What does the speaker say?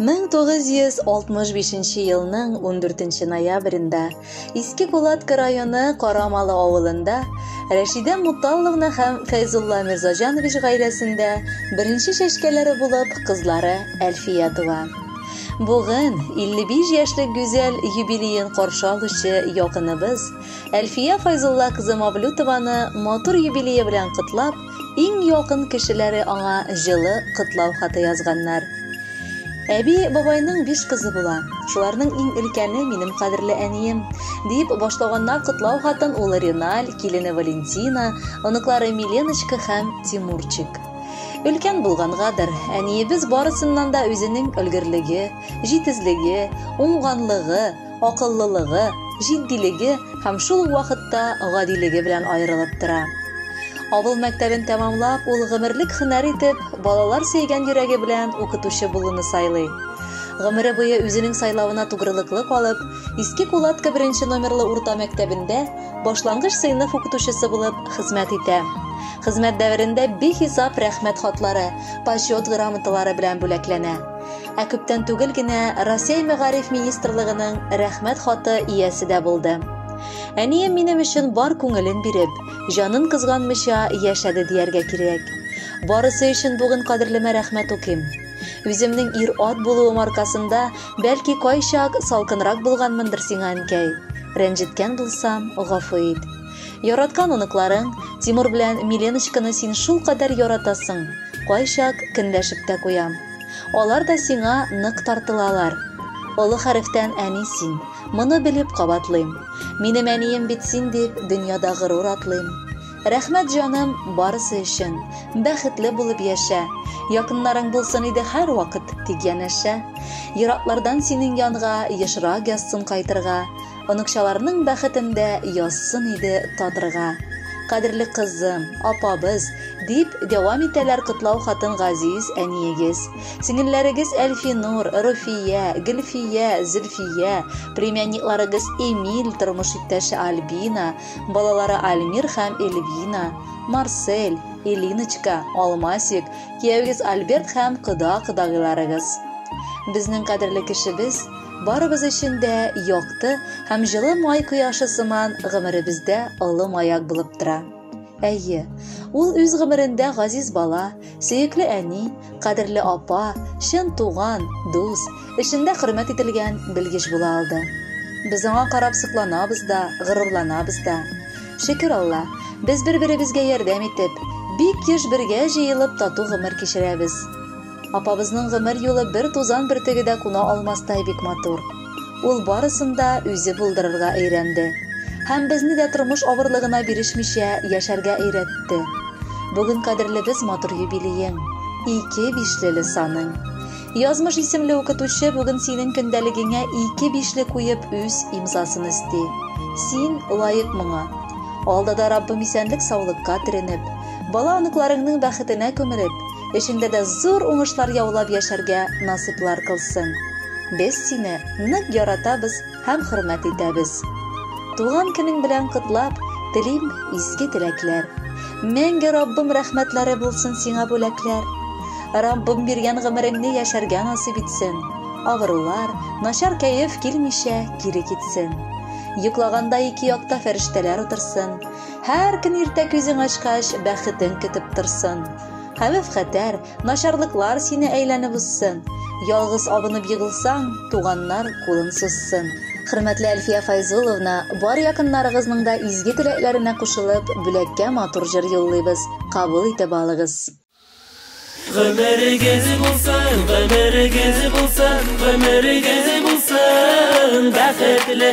1965 елның 14 ноябрендә Иске Кулатка районы Карамалы авылында Рәшидә Муталловна һәм Фәйзулла Мирзаҗанович гаиләсендә беренче чәчкәләре булып кызлары Әлфия туа. Бүген 55 яшьлек гүзәл юбилеен каршы алучы якыныбыз Әлфия Файзулла кызы Мавлютованы матур юбилее белән котлап, иң якын кешеләре аңа җылы котлау хаты язганнар. Әби бабайның биш кызы була. Шуларның иң өлкәне минем кадерле әнием, дип башлаганнар котлау хатын улы Реналь, килене Валентина, оныклары Миленочка һәм Тимурчик. Өлкән булгангадыр, әниебез барысыннан да үзенең өлгерлеге, җитезлеге, уңганлыгы, акыллылыгы, җитдилеге һәм шул ук вакытта гадилеге белән аерылып тора. Авыл мәктәбен тәмамлап, ул гомерлек һөнәр итеп, балалар сөйгән йөрәге белән укытучы булуны сайлый. Гомере буе үзенең сайлавына тугрылыклы калып, Иске Кулатка беренче номерлы урта мәктәбендә башлангыч сыйныф укытучысы булып хезмәт итә. Хезмәт дәверендә бихисап рәхмәт хатлары, почет грамоталары белән бүләкләнә. Ә күптән түгел генә Россия Мәгариф министрлыгының рәхмәт хаты иясе дә булды. Әнием минем өчен бар күңелен биреп, җанын кызганмыйча яшәде дияргә кирәк. Барысы өчен бүген кадерлемә рәхмәт укыйм. Үземнең ир-ат булуым аркасында, бәлки кайчак салкынрак булганмындыр сиңа, әнкәй. Рәнҗеткән булсам, гафу ит. Яраткан оныкларың, Тимур белән Миленочканы син шул кадәр яратасың, кайчак кенләшеп тә куям. Алар да сиңа нык тартылалар. Олы хәрефтән әни син, моны белеп кабатлыйм. Минем әнием бит син дип, дөньяда горур атлыйм. Рәхмәт җаным, барысы өчен. Бәхетле булып яшә. Якыннарың булсын иде һәрвакыт, дип янәшә. Ераклардан синең янга ешрак язсын кайтырга. Оныкчаларның бәхетендә язсын иде татырга. Кадерле кызым, апабыз, дип дәвам итәләр котлау хатын газиз әниегез. Сеңелләрегез Әлфинур, Руфия, Гөлфия, Зөлфия, племянникларыгыз Эмиль, тормыш иптәше Альбина, Балалары Альмир һәм Эльвина, Марсель, Элиночка, Алмасик, кияүгез Альберт һәм кода-кодагыйларыгыз. Безнең кадерле кешебез, барыбыз өчен дә якты һәм җылы май кояшы сыман гомеребездә олы маяк булып тора. Әйе, ул үз гомерендә газиз бала, Сөекле әни, кадерле апа, чын туган, дус, эшендә хөрмәт ителгән белгеч була алды. Без аңа карап сокланабыз да, горурланабыз да. Шөкер Алла, без бер-беребезгә ярдәм итеп, бик еш бергә җыелып тату гомер кичерәбез. Апабызның гомер юлы бер тузан бөртеге дә куна алмастай бик матур. Ул барысын да үзе булдырырга өйрәнде. Һәм безне дә тормыш авырлыгына бирешмичә яшәргә өйрәтте. Бүген кадерлебез матур юбилеең, ике бишлеле саның. Язмыш исемле укытучы бүген синең көндәлегеңә ике бишле куеп үз имзасын өсти. Син лаек моңа. Алда да Раббым исәнлек-саулыкка төренеп, бала-оныкларыңның бәхетенә күмелеп, Эшеңдә дә зур уңышлар яулап яшәргә насыйплар кылсын. Без сине нык яратабыз һәм хөрмәт итәбез. Туган көнең белән котлап, телим изге теләкләр. Мәңге Раббым рәхмәтләре булсын сиңа бүләкләр. Раббым биргән гомереңне яшәргә насыйп итсен. Авырулар, начар кәеф килмичә кире китсен. Йоклаганда ике якта фәрештәләр утырсын. Һәр көн иртә күзең ачкач, бәхетең көтеп торсын. Хәвеф-хәтәр, начарлыклар сине әйләнеп узсын. Ялгыз абынып егылсаң, туганнар кулын сузсын. Хөрмәтле Әлфия Файзулловна, бар якыннарыгызның да изге теләкләренә кушылып, бүләккә матур җыр юллыйбыз, кабул итеп алыгыз. Гомерегез булсын, гомерегез булсын, гомерегез булсын бәхетле.